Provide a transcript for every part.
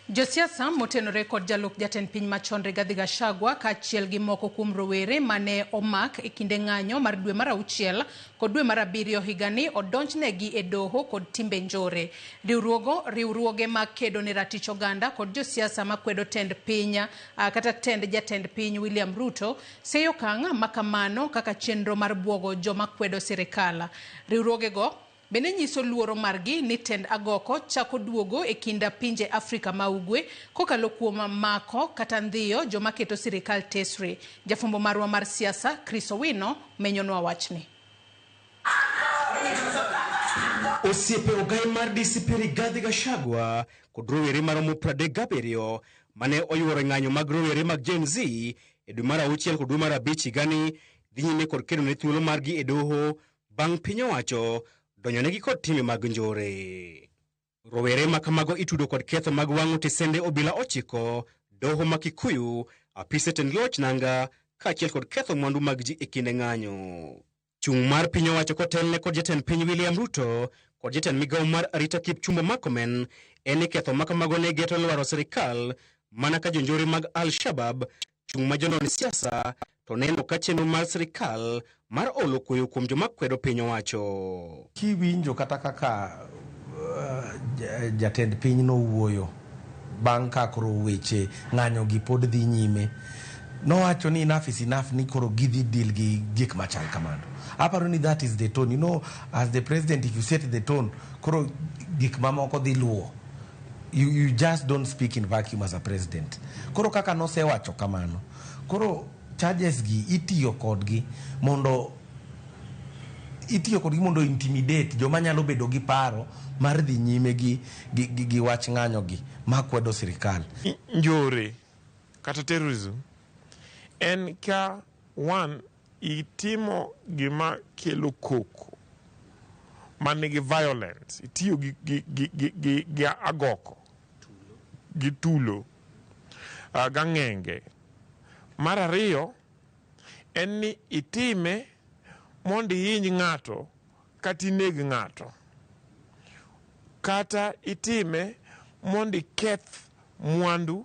Josiasa motenore kod jalup jatend piny machon Rigathi Gachagua kaachiel gi moko kuom rowere ma ne omak e kinde ng'anyo mar dwe mar auchiel kod dwe mar abiriyo higani odonjnegi e doho kod timbe njore. Riwruogo, riwruoge ma kedo ne ratich oganda kod josiasa ma kwedo tend piny ah, kata tend jatend piny William Ruto seyo okang' ma kamano kaka chenro mar bwogo joma kwedo sirikal. Riwruogego Bende nyiso luoro margi ni tend agoko chako duogo e kind pinje Afrika ma Ugwe kokalo kuom mako kata ndhiyo joma keto sirikal tesre. Jafwambo marwa mar siasa, Chris Owino menyonwa wachni. Osiepe ogai mar DCP Rigathi Gachagua kod rowere maromo pradek gabiriyo mane oyuoro e ng'anyo mag rowere mag Gen Z e dwe mar auchiel kod dwe mar abich higani dhi nyime kod kedo ne thuolo margi e doho bang' piny owacho donjonegi kod timbe mag njore. Rowere ma kamago itudo kod ketho mag wang'o tisende obila ochiko, doho ma Kikuyu, apise tend loch nanga, kaachiel kod ketho mwandu mag ji e kinde ng'anyo. Chung' mar piny owacho kotelne kod jatend piny William Ruto kod jatend migawo mar arita Kipchumba Murkomen en ni ketho ma kamago ne geto lwaro sirkal mana ka jonjore mag al-Shabab chung' ma jonon siasa to neno ka chenro mar sirkal mar olo kueyo kuom joma kwedo piny owacho. Kiwinjo kata kaka jatend piny nowuoyo bang' ka koro weche ng'anyo gi pod dhi nyime, nowacho ni enough is enough ni koro gidhi deal gi gik machal kamano. Aparo ni that is the tone. You know, as the president if you set the tone, koro gik mamoko dhi luwo. you, you just don't speak in vacuum as a president koro kaka nosewacho kamano koro charges gi itiyo kodgi mondo itiyo kodgi mondo intimidate joma nyalo bedo gi paro mar dhi nyime gi, gi, gi, gi wach ng'anyo gi ma kwedo sirikal njore kata terrorism en ka one Itimo gima kelo koko ma nigi violence, itiyo gi, gi, gi, gi, gi, gi agoko, gi tulo, uh, gang'enge. Mar ariyo en ni itime mondo ihiny ng'ato kata ineg ng'ato, kata itime mondo iketh mwandu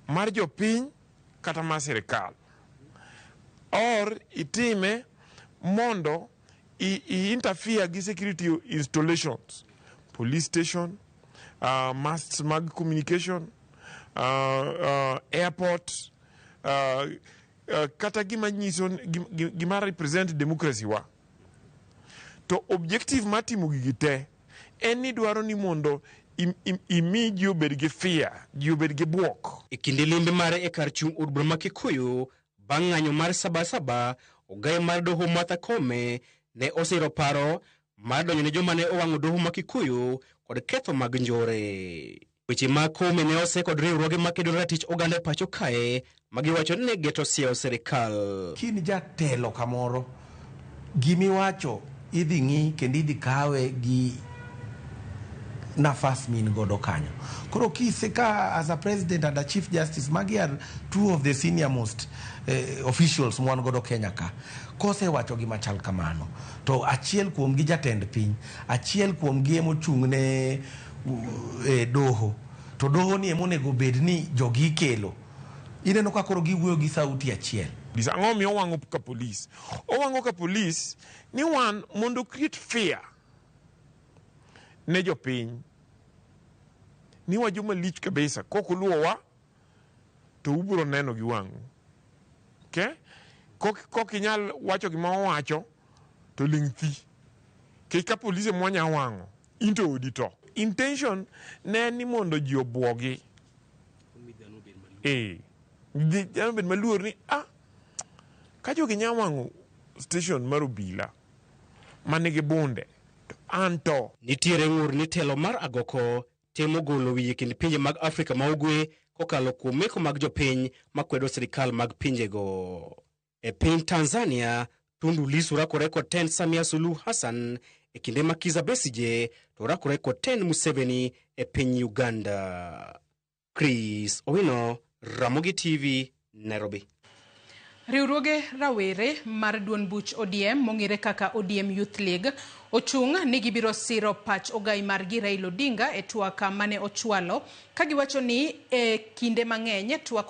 mar jopiny. kata mar sirkal or itime mondo i, i interfere gi security installations police station uh, masts mag communication uh, uh, airport uh, uh, kata gima nyiso gim- gim- gima represent democracy wa to objective mar timo gigi te En ni dwaro ni mondo imi ji obed gi fia, ji obed gi bwok. E kinde limbe mare e kar chung' od bura ma Kikuyu bang' ng'anyo mar Sabasaba, ogayo mar doho Martha Koome ne osiro paro mar donjo ne joma ne owang'o doho ma Kikuyu kod ketho mag njore. Weche ma Kome ne ose kod riwruoge makedo ne ratich oganda e pacho kae ma giwacho ni ne geto siewo sirkal. Ka in jatelo kamoro, gima iwacho idhi ng'i kendo idhi kawe gi nafas ma in godo kanyo. Koro ka ise ka as a president and a chief justice, magi are two of the senior most officials ma wan godo Kenya ka. Ka osewacho gima chal kamano, to achiel kuomgi jatend piny, achiel kuomgi ema ochung' ne. e doho to doho ni emonego bed ni jogi ikelo ineno ka koro giwuoyo gi sauti achiel Police. Ang'o miyo owango ka police? Owango ka police ni wan mondo create fear ne jopiny ni wa joma lich kabisa kok uluowa to ubiro neno gi wang'u okay? kok, kok inyal wacho gima owacho to ling' thi kech ka polise mwanya wang'o In to odi to. Intention ne en ni mondo ji obwogi. Eh. Ji dhano bed maluor ni ah ka jogi nya wang'o station mar obila ma nigi bunde to an to. Nitiere ng'ur ni telo mar agoko temo golo wiye kind pinje mag Afrika ma Ugwe kokalo kuom meko mag jopiny makwedo sirkal mag pinjego. E piny Tanzania, Tundu Lissu rakore kod tend Samia Suluhu Hassan e kinde ma Kiza Besije to rakore kod tend Museveni e piny Uganda. Chris Owino, Ramogi TV, Nairobi. Riwruoge rawere mar duond buch ODM mong'ere kaka ODM Youth League ochung' ni gibiro siro pach ogai margi Raila Odinga e twak mane ochwalo ka giwacho ni e kinde mang'eny twak